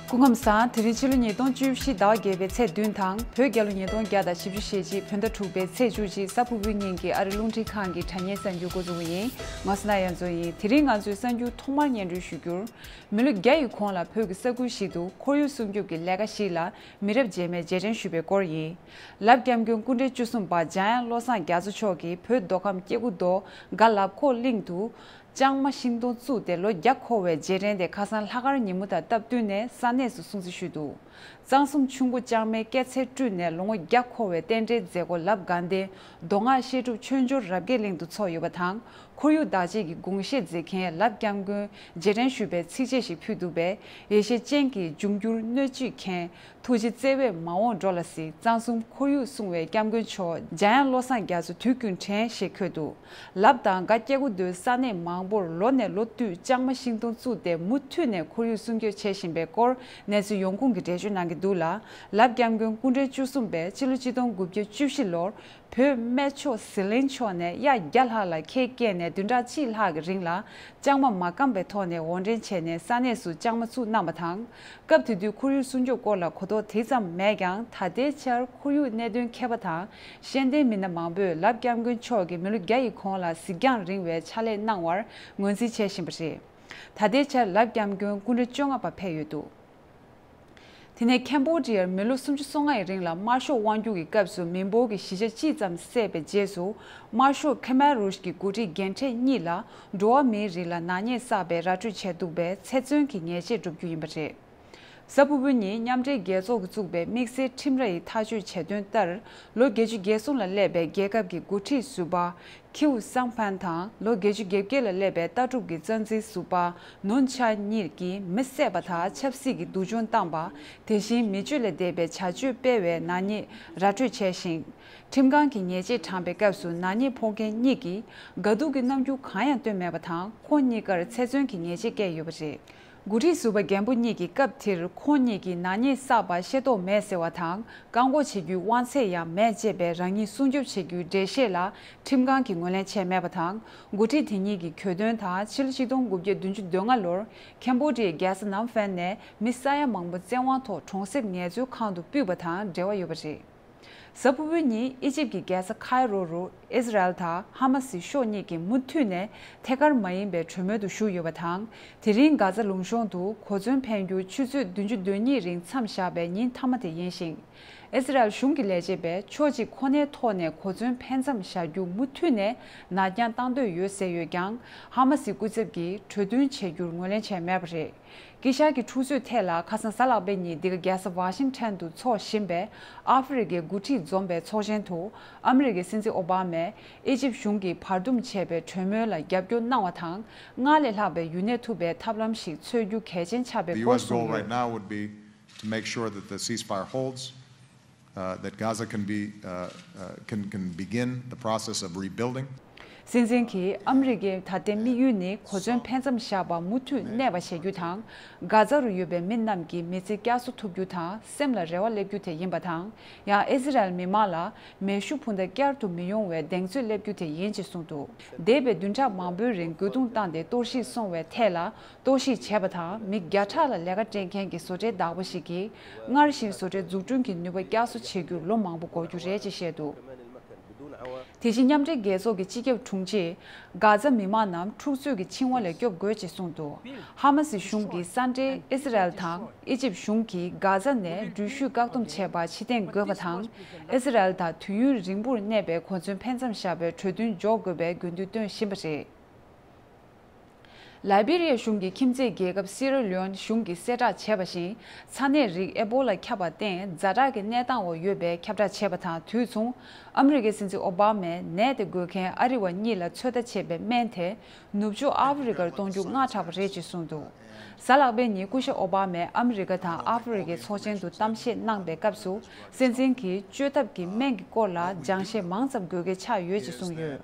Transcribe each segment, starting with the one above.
སྐུ་ངོམ་སང་དེ་རིང་ཕྱི་ལོ་ཉིས་སྟོང་བཅུ་བཞི་ཟླ་བ་བརྒྱད་པའི་ཚེས་བདུན་དང་བོད་རྒྱལ་ལོ་ཉིས་སྟོང་བརྒྱ་དང་བཞི་བཅུ་ཞེ་གཅིག་བོད་ཟླ་དྲུག་པའི་ཚེས་བཅུ་གཅིག་ས་ཕུ་བོའི་གཉིས་ཀྱི་ཨ་རི་རླུང་འཕྲིན་ཁང་གི་དྲ་བརྙན་གསར་འགྱུར་འགོ་འཛུགས་པ་ཡིན་ང་སོ་ན་ཡ་མཚོ་ཡིན་དེ་རིང་ང་ཚོས་གསར་འགྱུར་ཐོག་མར་སྙན་སྒྲོན་ཞུ་རྒྱུར། མི་ལོ་བརྒྱ་ཡི་གོང་ལ་བོད་ཀྱི་ས་ཁུལ་ཞིག་ཏུ་ཁོར་ཡུག་སྲུང་སྐྱོབ་ཀྱི་ལས་ཀ་ཞིག་ལ་མི་རབས་རྗེས་མས་རྗེས་དྲན་ཞུས་པའི་སྐོར་ཡིན། ལབ་སྐྱབས་མགོན་སྐུ་འདྲེན་བཅུ་གསུམ་པ་འཇམ་དབྱངས་བློ་བཟང་རྒྱ་མཚོ་མཆོག་གིས་བོད་མདོ་ཁམས་སྐྱེ་རྒུ་མདོ་སྒ་ལབ་ཁོག་གླིང་དུ། ལྕང་མ་ཤིང་སྡོང་བཙུགས་ཏེ་ལོ་བརྒྱ་འཁོར་བའི་རྗེས་དྲན་དེ་ཁ་སང་ལྷ་ཁར་ཉིན་མོ་དང་སྟབས་བསྟུན་ནས་ས་གནས་སུ་སྲུང་བརྩི་ཞུས་འདུག། གཙང་གསུམ་ཆུ་མགོ་ལྕང་མའི་སྐྱེད་ཚལ་སྤྲུལ་ནས་ལོ་ངོ་བརྒྱ་འཁོར་བའི་རྟེན་འབྲེལ་མཛད་སྒོ་ལབ་སྒང་སྟེ་མདོ་སྔགས་བཤད་སྒྲུབ་ཆོས་འབྱོར་རབ་རྒྱས་གླིང་དུ་འཚོགས་ཡོད་པ་དང་ཁོར་ཡུག་བདག་གཅེས་ཀྱི་དགོངས་བཞེད་མཛད་མཁན་ལབ་སྐྱབས་མགོན་རྗེས་དྲན་ཞུ་བའི་ཚིགས་བཅད་ཞིག་ཕུལ་འདུག་པས་ཡེ་ཤེས་སྤྱན་གྱིས་འབྱུང་འགྱུར་སྣོད་བཅུད་མཁྱེན། ཐུགས་རྗེ་བརྩེ་བས་མ་འོངས་འགྲོ་ལ་གཟིགས་གཙང་གསུམ་ཁོར་ཡུག་སྲུང་བའི་སྐྱབས་མགོན་མཆོག་འཇམ་དབྱངས་བློ་བཟང་རྒྱ་མཚོ་དུས་ཀུན་དྲན་ཞེས་འཁོད་འདུག་ལབ་དང་སྒ་སྐྱེ་རྒུ་མདོའི་ས་གནས་མང་པོར་ལོ་ནས་ལོ་བསྟུད་ལྕང་མ་ཤིང་སྡོང་བཙུགས་ཏེ་མུ་མཐུད་ནས་ཁོར་ཡུག་སྲུང་སྐྱོབ་བྱེད་བཞིན་པའི་སྐོར་གནས་ཚུལ་ཡོང་ཁུངས་ཀྱི་འགྲེལ་བརྗོད་གནང་གི་འདུག་ལ། ལབ་སྐྱབས་མགོན་སྐུ་འབྲེལ་བཅུ་གསུམ་པས་ཕྱི་ལོ་སྤྱི་སྟོང་དགུ་བརྒྱ་བཅུ་བཞི་ལོར་བོད་སྨད་ཕྱོགས་ཟི་ལིང་ཕྱོགས་ནས་གཡག་བརྒྱ་ལྷག་ལ་ཁལ་བཀལ་ནས་བདུན་ཕྲག་གཅིག་ལྷག་གི་རིང་ལ་ལྕང་མ་མ་སྐམ་པའི་ཐོག་ནས་འོར་འདྲེན་བྱས་ནས་ས་གནས་སུ་ལྕང་མ་བཙུགས་གནང་བ་དང། སྐབས་དེ་དུས་ཁོར་ཡུག་སྲུང་སྐྱོབ་སྐོར་ལ་གོ་རྟོགས་དེ་ཙམ་མེད་ཀྱང་ད་ལྟའི་ཆར་ཁོར་ཡུག་གནད་དོན་མཁས་པ་དང་ཤེས་ལྡན་མི་སྣ་མང་པོས་ལབ་སྐྱབས་མགོན་མཆོག་གིས་མི་ལོ་བརྒྱ་ཡི་གོང་ལ་གཟིགས་རྒྱང་རིང་བའི་ཕྱག་ལས་གནང་བར་ངོས་འཛིན་བྱེད་བཞིན་པ་རེད། ད་ལྟའི་ཆར་ལག་བརྐྱངས་སྐྱོན་སྐུ་མགྲོན་བཅོ་ལྔ་པ་ཕེབས་ཡོད་འདུག་དེ་ནས་ཁན་པོ་ལྗི་ཡར་མི་ལོ་སུམ་ཅུ་སོ་ལྔ་ཡི་རིང་ལ་དམར་ཤོག་དབང་བསྒྱུར་གྱི་སྐབས་སུ་མི་འབོར་གྱི་བཞི་ཆ་གཅིག་ཙམ་བསད་པའི་རྗེས་སུ་དམར་ཤོག་ཁེ་མཱེ་རུའུ་ཞི་གི་འགོ་ཁྲིད་རྒན་གྲས་གཉིས་ལ་འགྲོ་བ་མིའི་རིགས་ལ་ནག་ཉེས་བསགས་པའི་ར་སྤྲོད་བྱས་འདུག་པའི་ཚེ་བཙོན་གྱི་ཉེས་ཆད་སྒྲུབ་རྒྱུ་ཡིན་པ་རེད། གཟའ་ཕུར་བུ་གཉིས་མཉམ་འབྲེལ་རྒྱལ་ཚོགས་ཀྱིས་བཙུགས་པའི་དམིགས་བསལ་ཁྲིམས་ར་ཡིས་ཐག་གཅོད་བྱས་དོན་ལྟར། ལོ་བརྒྱད་ཅུ་བརྒྱད་གསུམ་ལ་སླེབས་པའི་རྒྱལ་ཁབ་ཀྱི་འགོ་ཁྲིད་ཟུར་པ། Qiu Zhangpan། དང་ལོ་བརྒྱད་ཅུ་བརྒྱད་བརྒྱད་ལ་སླེབས་པའི་ལྟ་གྲུབ་ཀྱི་རྩ་འཛིན་ཟུར་པ Nun Cha གཉིས་ཀྱིས་མི་བསད་པ་དང་ཆབ་སྲིད་ཀྱི་སྡུག་སྦྱོང་བཏང་བ། དེ་བཞིན་མི་སྤྱོད་ལས་འདས་པའི་བྱ་སྤྱོད་སྤེལ་བའི་ནག་ཉེས་ར་སྤྲོད་བྱས་ཤིང། ཁྲིམས་ཁང་གིས་ཉེས་ཆད་དྲངས་པའི་སྐབས་སུ་ནག་ཉེས་ཕོག་མཁན་གཉིས་ཀྱིས་དགའ་སྡུག་གི་རྣམ་འགྱུར་གང་ཡང་བཏོན་མེད་པ་དང་ཁོང་གཉིས་ཀར་ཚེ་བཙོན་གྱི་ཉེས་ཆད་བཀལ་ཡོད་པ་རེད། དགུ་ཁྲི་ཟུར་པ་རྒན་པོ་གཉིས་ཀྱིས་སྐབས་དེར་ཁོང་གཉིས་ཀྱི་ནག་ཉེས་བསགས་པ་ཤེས་རྟོགས་མེད་ཟེར་བ་དང་བཀག་འགོག་བྱེད་རྒྱུའི་དབང་ཚད་ཡང་མེད་ཅེས་པའི་རང་ཉིད་སྲུང་སྐྱོབ་བྱེད་རྒྱུའི་འགྲེལ་བཤད་ལ་ཁྲིམས་ཁང་གིས་ངོས་ལེན་བྱས་མེད་པ་དང་དགུ་ཁྲི་དེ་གཉིས་ཀྱི་གྱོད་དོན་དང་ཕྱི་ལོ་ཆིག་སྟོང་དགུ་བརྒྱ་བདུན་ཅུ་དོན་ལྔ་ལོར་ཁན་པོ་ཏྲིའི་རྒྱལ་ས་ནམ་ཧྥན་ནས་མི་ས་ཡ་མང་པོ་བཙན་དབང་ཐོག་གྲོང་གསེབ་ངལ་རྩོལ་ཁང་དུ་སྤུད་པ་དང་འབྲེལ་བ་ཡོད་པ་རེད། གཟའ་ཕུར་བུ་ཉིན་ཨི་ཇིབ་ཀྱི་རྒྱལ་ས་ཁཱའི་རོ་རུ་ཨིས་ར་ཨེལ་དང་ཧ་མ་སི་ཕྱོགས་གཉིས་ཀྱིས་མུ་མཐུད་ནས་ཐད་ཀར་མ་ཡིན་པའི་གྲོས་མོལ་དུ་ཞུགས་ཡོད་པ་དང། དེ་རིང་གྷ་ཛ་ལུང་གཤོང་དུ་གོ་མཚོན་འཕེན་རྒྱུ་ཆུ་ཚོད་བདུན་ཅུ་དོན་གཉིས་རིང་མཚམས་བཞག་པའི་ཉིན་མཐའ་མ་དེ་ཡིན་ཞིང། ཨིས་ར་ཨེལ་གཞུང་གི་ལས་བྱེད་པས་ཕྱོགས་གཅིག་ཁོ་ནའི་ཐོག་ནས་གོ་མཚོན་འཕེན་མཚམས་བཞག་རྒྱུ་མུ་མཐུད་ནས་ནར་འགྱངས་གཏང་འདོད་ཡོད་ཟེར་ཡོད་ཀྱང་ཧ་མ་སི་སྐུ་ཚབ་ཀྱིས་གྲོས་མཐུན་བྱེད་རྒྱུར་ངོས་ལེན་བྱས་མེད་པ་རེད། ཀི་ཤཱ་ཀི་འཁྲུག་རྩོད་ཐད་ལ་ཁ་སང་གཟའ་ལག་པའི་ཉིན་འདི་ག་རྒྱལ་ས་བྷ་ཤིང་ཐན་དུ་འཚོགས་བཞིན་པའི་ཨ་ཧྥེ་རི་ཀའི་འགོ་ཁྲིད་འཛོམས་པའི་ཚོགས་ཆེན་དུ་ཨ་མི་རི་ཀའི་སྲིད་འཛིན་ཨོ་བྷ་མས་ཨེ་ཅིབ་གཞུང་གིས་བར་འདུམ་བྱས་པའི་གྲོས་མོལ་ལ་རྒྱབ་སྐྱོར་གནང་བ་དང་སྔར་ལས་ལྷག་པའི་ཡུན་གནས་ཐུབ་པའི་ཐབས་ལམ་ཞིག་འཚོལ་རྒྱུ་གལ་ཆེན་ཆགས་པའི་སྐོར་གསུངས་ཡོད། སྲིད་འཛིན་གྱིས་ཨ་མི་རི་ཀའི་ད་ལྟའི་དམིགས་ཡུལ་ནི་གོ་མཚོན་ཕན་ཙམ་བཞག་པ་མུ་མཐུད་གནས་པ་བྱ་རྒྱུ་དང། གྷ་ཛ་རུ་ཡོད་པའི་མི་རྣམས་ཀྱི་མི་ཚེ་བསྐྱར་གསོ་ཐུབ་རྒྱུ་དང་སེམས་ལ་རེ་བ་སླེབས་རྒྱུ་དེ་ཡིན་པ་དང། ཡང་ཨི་ཟི་རལ་མི་དམངས་ལ་མེ་ཤུགས་འཕུར་མདའ་བསྐྱར་དུ་མི་ཡོང་བའི་གདེང་ཚོད་སླེབས་རྒྱུ་དེ་ཡིན་ཅེས་གསུངས་འདུག་འདས་པའི་བདུན་ཕྲག་མང་པོའི་རིང་རྒོལ་རྡུང་བཏང་སྟེ་གཏོར་བཤིག་སོང་བའི་ཐད་ལ་གཏོར་བཤིག་བྱས་པ་དང་མི་བརྒྱ་ཕྲག་ལ་ལས་ཀ་སྤྲད་མཁན་གྱི་བཟོ་གྲྭའི་བདག་པོ་ཞིག་གིས་སྔར་བཞིན་བཟོ་གྲྭའི་འཛུགས་སྐྲུན་གྱི་ནུས་པ་བསྐྱར་གསོ་བྱེད་རྒྱུར་ལོ་མང་པོ་འགོར་རྒྱུ་རེད་ཅེས་བཤད་འདུག་དེ་བཞིན་མཉམ་འབྲེལ་རྒྱལ་ཚོགས་ཀྱི་སྤྱི་ཁྱབ་དྲུང་ཆེས། གྷ་ཛ་མི་མང་རྣམས་འཁྲུག་རྩོད་ཀྱི་འཆིང་བ་ལས་སྐྱོབ་དགོས་ཅེས་གསུངས་འདུག་ཧ་མ་སི་གཞུང་གིས་ས་འབྲེལ་ཨིསི་རལ་དང་ཨི་ཇིབ་གཞུང་གིས་གྷ་ཛ་ནས་འགྲུལ་བཞུད་བཀག་སྡོམ་བྱས་པར་ཕྱི་གཏན་འགོད་པ་དང་ཨིསི་རལ་དང་དུས་ཡུན་རིང་པོར་གནས་པའི་གོ་མཚོན་འཕེན་མཚམས་བཞག་པའི་གྲོས་མཐུན་འཇོག་དགོས་པའི་དགོས་འདུན་བཏོན་བཞིན་པ་རེད། ལཱི་སྦི་རི་ཡ་གཞུང་གིས་ཁྱིམ་མཚེས་རྒྱལ་ཁབ་སི་ར་ལིའོན་གཞུང་གིས་གསལ་བསྒྲགས་བྱས་པ་བཞིན་ཚ་ནད་རིགས་ཨེ་པོ་ལ་ཁྱབ་པར་བརྟེན་རྫ་དྲག་གི་གནས་སྟངས་འོག་ཡོད་པའི་ཁྱབ་བསྒྲགས་བྱས་པ་དང་དུས་མཚུངས་ཨ་མི་རི་ཀའི་སྲིད་འཛིན་ཨོ་བྷ་མས་ནད་དེ་འགོས་མཁན་ཨ་རི་བ་གཉིས་ལ་ཚོད་ལྟ་བྱེད་པའི་སྨན་དེ་ནུབ་ཕྱོགས་ཨ་ཧྥི་རི་ཀར་གཏོང་རྒྱུ་སྔ་དྲགས་པ་རེད་ཅེས་གསུངས་འདུག་གཟའ་ལག་པའི་ཉིན་སྐུ་ཞབས་ཨོ་བྷ་མས་ཨ་མི་རི་ཀ་དང་ཨ་ཧྥི་རི་ཀའི་ཚོགས་ཆེན་དུ་གཏམ་བཤད་གནང་པའི་སྐབས་སུ་སྲིད་འཛིན་གྱིས་བཅོས་ཐབས་ཀྱི་སྨན་གྱི་སྐོར་ལ་སྦྱང་བཤད་མང་ཙམ་དགོས་གལ་ཆགས་ཡོད་ཅེས་གསུངས་ཡོད།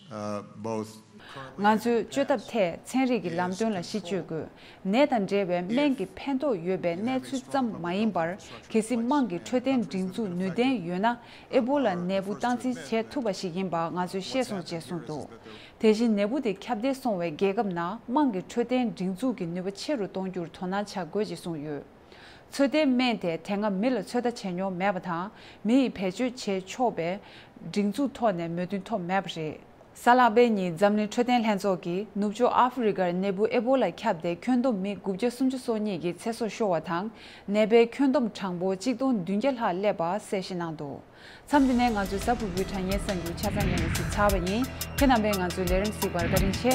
ང་ཚོས་བཅོས་ཐབས་ཐད་ཚན་རིག་གི་ལམ་སྟོན་ལ་གཞི་བཅོལ་དགོས། ནད་དང་འབྲེལ་བའི་སྨན་གྱི་ཕན་ཐོགས་ཡོད་པའི་གནས་ཚུལ་ཙམ་མ་ཡིན་པར་གལ་སྲིད་དམངས་ཀྱི་འཕྲོད་བསྟེན་སྒྲིག་འཛུགས་ནུས་ལྡན་ཡོད་ན་ཨེ་པོ་ལ་ནད་འབུ་སྟངས་འཛིན་བྱེད་ཐུབ་པ་ཞིག་ཡིན་པ་ང་ཚོས་ཤེས་སོང་ཅེས་གསུངས་འདུག་དེ་བཞིན་ནད་འབུ་དེ་ཁྱབ་གདལ་སོང་བའི་རྒྱལ་ཁབ་ནང་དམངས་ཀྱི་འཕྲོད་བསྟེན་སྒྲིག་འཛུགས་ཀྱི་ནུས་པ་ཆེ་རུ་གཏོང་རྒྱུར་དོ་སྣང་བྱ་དགོས་ཅེས་གསུངས་ཡོད། ཚོད་ལྟའི་སྨན་དེ་དེ་སྔ་མི་ལ་ཚོད་ལྟ་བྱས་མྱོང་མེད་པ་དང་མི་ཡིས་བེད་སྤྱོད་བྱེད་ཆོག་པའི་སྒྲིག་འཛུགས་ཐོག་ནས་མོས་མཐུན་ཐོབ་མེད་པ་རེད། ས་ལྷག་པའི་ཉིན་འཛམ་གླིང་འཕྲོད་བསྟེན་ལྷན་ཚོགས་ཀྱིས་ནུབ་ཕྱོགས་ཨ་ཧྥུ་རི་ཀར་ནད་འབུ་ཨེ་པོ་ལ་ཁྱབ་སྟེ་ཁྱོན་བསྡོམས་མི་དགུ་བརྒྱ་སུམ་ཅུ་སོ་གཉིས་ཀྱི་ཚེ་སྲོག་ཤོར་བ་དང་ནད་པའི་ཁྱོན་བསྡོམས་གྲངས་འབོར་གཅིག་སྟོང་བདུན་བརྒྱ་ལྷག་བསླེབས་པ་གསལ་བཤད་གནང་འདུག། མཚམས་འདི་ནས་ང་ཚོའི་གཟའ་ཕུར་བུའི་དྲ་བརྙན་གསར་འགྱུར་ཆ་ཚང་ཡོང་བའི་གཟིགས་ཚར་བ་ཡིན། ཁྱེད་རྣམ་པས་ང་ཚོའི་ལས་རིམ་གཟིགས་པར་བཀའ་དྲིན་ཆེ།